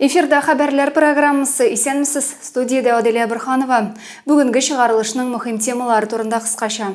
Эфирда хәбәрләр программасы исәнмесез студиядә Аделя Бирханова. Бүгенге чыгарылышның мөһим темалары турында кыскача.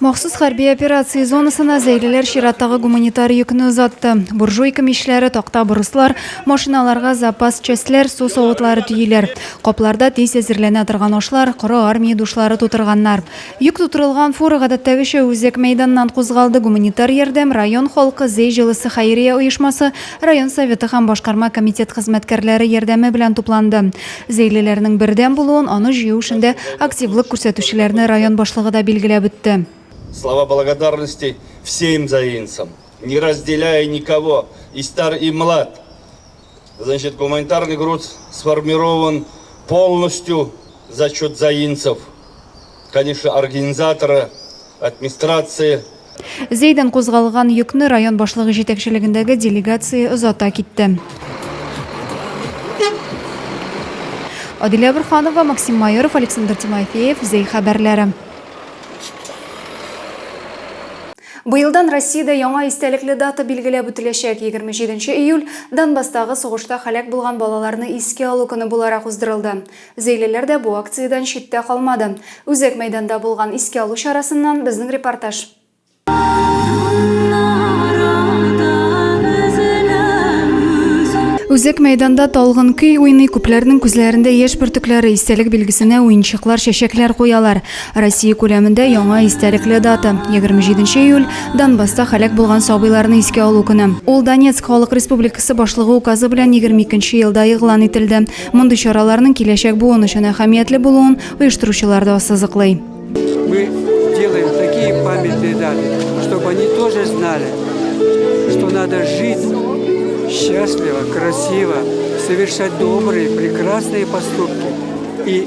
Махсус хәрби операция зонасына зәйлеләр чираттагы гуманитар йөкне озатты. Буржуйка мишләре, такта бруслар, машиналарга запас частьләр, су савытлары төйиләр. Капларда тиз әзерләнә торган ашлар, коры армия душлары тутырганнар. Йөк тутырылган фура гадәттәгечә үзәк мәйданнан кузгалды. Гуманитар ярдәм, район халкы, Зәй җылысы хәйрия оешмасы, район советы һәм башкарма комитет хезмәткәрләре ярдәме белән тупланды. Зәйлеләрнең бердәм булуын, аны җыю эшендә активлык күрсәтүчеләрне район башлыгы да билгеләп үтте. Слова благодарности всем заинцам, не разделяя никого, и стар и млад! Значит, гуманитарный груз сформирован полностью за счет заинцев. Конечно, организаторы, администрации. Зәйдән кузгалган йөкне район башлыгы җитәкчелегендәге делегация озата китте. Адилә Бурханова, Максим Майоров, Александр Тимофеев, Зәй хәбәрләре. Быелдан Россиядә яңа истәлекле дата билгеләп үтеләчәк, егерме җиденче июль Донбасстагы сугышта һәлак булган балаларны искә алу көне буларак уздырылды. Зәйлеләр дә бу акциядән читтә калмады. Үзәк мәйданда булган искә алу чарасыннан безнең репортаж. Үзәк мәйданда талгын көй уйный, күпләрнең күзләрендә яшь бөртекләре, истәлек билгесенә уенчыклар, чәчәкләр куялар. Россия күләмендә яңа истәлекле дата, 27 нче июль, Донбасста һәлак булган сабыйларны искә алу көне. Ул Донецк Халык Республикасы башлыгы указы белән 22 нче елда игълан ителде. Мондый чараларның киләчәк буын өчен әһәмиятле булуын оештыручылар да ассызыклый. Мы делаем такие памятные даты, чтобы они тоже знали, что надо жить счастливо, красиво, совершать добрые, прекрасные поступки и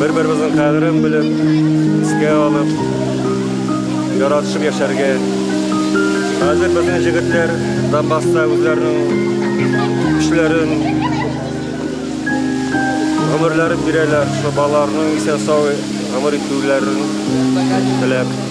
Бер-беребезнең кадерен белеп, искә алып, яратышып яшәргә. Хәзер безнең җегетләр Донбасста үзләренең көчләрен, гомерләрен бирәләр, шул балаларның исән-сау гомер итүләрен теләп.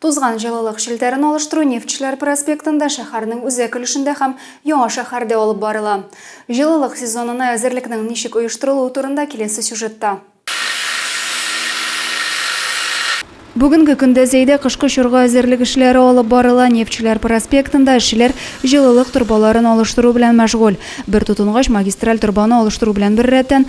Тузган җылылык челтәрен алыштыру Нефтьчеләр проспектында, шәһәрнең үзәк өлешендә һәм Яңа шәһәрдә алып барыла. Җылылык сезонына әзерлекнең ничек оештырылуы турында киләсе сюжетта. Бүгенге көндә Зәйдә кышкы чорга әзерлек эшләре алып барыла. Нефтьчеләр проспектында эшчеләр җылылык торбаларын алыштыру белән мәшгуль. Бер тотынгач, магистраль торбаны алыштыру белән беррәттән,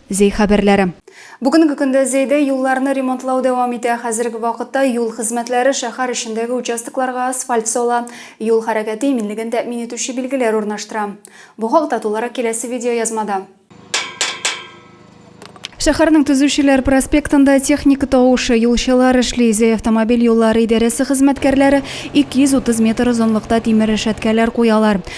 Зәй хәбәрләре. Бүгенге көндә Зәйдә юлларны ремонтлау дәвам итә. Хәзерге вакытта юл хезмәтләре шәһәр эчендәге участокларга асфальт сала, юл хәрәкәте иминлеген тәэмин итүче билгеләр урнаштыра. Бу хакта тулырак киләсе видеоязмада. Шәһәрнең Төзүчеләр проспектында техника тавышы, юлчылар эшли. Зәй автомобиль юллары идарәсе хезмәткәрләре 230 метр озынлыкта тимер рәшәткәләр куялар.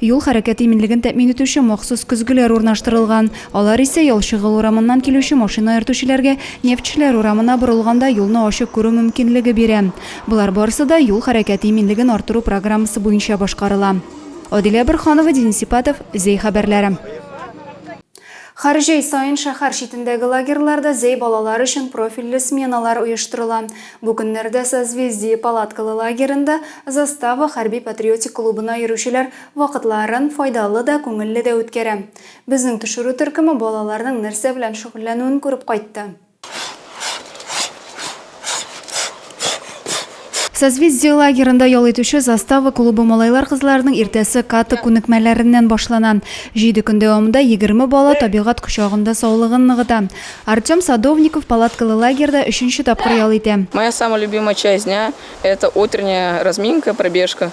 Юл хәрәкәте иминлеген тәэмин итүче махсус көзгеләр урнаштырылган. Алар исә Ялчыгыл урамыннан килүче машина йөртүчеләргә Нефтьчеләр урамына борылганда юлны ачык күрү мөмкинлеге бирә. Болар барысы да юл хәрәкәте иминлеген арттыру программасы буенча башкарыла. Адилә Борһанова, Денис Ипатов, Зәй хәбәрләре. Хәр җәй саен шәһәр читендәге лагерьларда зәй балалар өчен профильле сменалар оештырыла. Бу көннәрдә Созвездие палаткалы лагеренда Застава хәрби-патриотик клубына йөрүчеләр вакытларын файдалы да, күңелле дә үткәрә. Безнең төшерү төркеме балаларның нәрсә белән шөгыльләнүен күреп кайтты. Созвездие лагерында ял итүче Застава клубы малайлар-кызларының иртәсе каты күнекмәләреннән башлана. Җиде көн дәвамында 20 бала табигать кочагында саулыгын ныгыта. Артем Садовников палаткалы лагерьда өченче тапкыр ял итә. Моя самая любимая часть дня – это утренняя разминка, пробежка.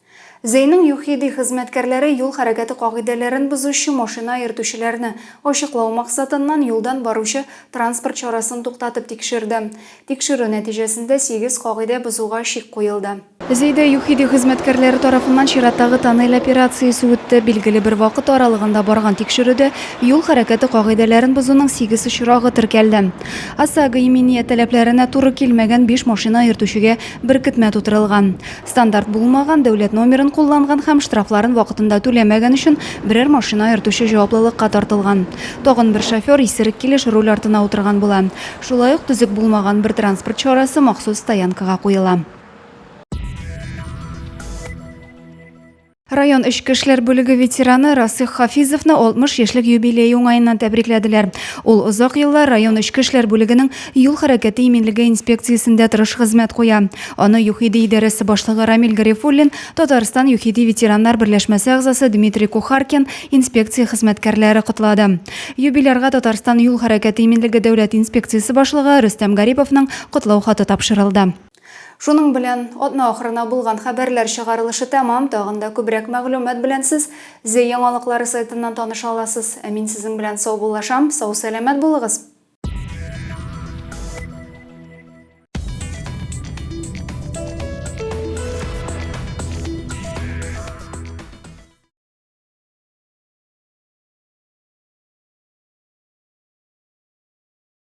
Зәйнең ЮХИДИ хезмәткәрләре юл хәрәкәте кагыйдәләрен бозучы машина йөртүчеләрне, ачыклау максатыннан, юлдан баручы транспорт чарасын туктатып тикшерде. Тикшерү нәтиҗәсендә сигез кагыйдә бозуга чик куелды. Зәйдә ЮХИДИ хезмәткәрләре тарафыннан чираттагы тоннель операциясе үтте. Билгеле бер вакыт аралыгында барган тикшерүдә юл хәрәкәте кагыйдәләрен бозуның сигез очрагы теркәлде. ОСАГО иминият таләпләренә туры килмәгән биш машина йөртүчегә беркетмә тутырылган. Стандарт булмаган, дәүләт номерын кулланган һәм штрафларын вакытында түләмәгән өчен берәр машина йөртүче җаваплылыкка тартылган. Тагын бер шофер исерек килеш руль артына утырган була. Шулай ук төзек булмаган бер транспорт чарасы махсус стоянкага куела. Район эчке эшләр бүлеге ветераны Расих Хафизовны 60 яшьлек юбилей уңаеннан тәбрикләделәр. Ул озак еллар район эчке эшләр бүлегенең юл хәрәкәте иминлеге инспекциясендә тырыш хезмәт куя. Аны ЮХИДИ идарәсе башлыгы Рамил Гарифуллин, Татарстан ЮХИДИ ветераннар берләшмәсе әгъзасы Дмитрий Кухаркин, инспекция хезмәткәрләре котлады. Юбилярга Татарстан юл хәрәкәте иминлеге дәүләт инспекциясе башлыгы Рөстәм Гариповның котлау хаты тапшырылды. Шуның белән, атна ахырына булган хәбәрләр чыгарылышы тәмам, тагын да күбрәк мәгълүмат белән сез Зе яңалыклары сайтыннан таныша аласыз. Ә мин сезнең белән саубуллашам, сау-сәламәт булыгыз!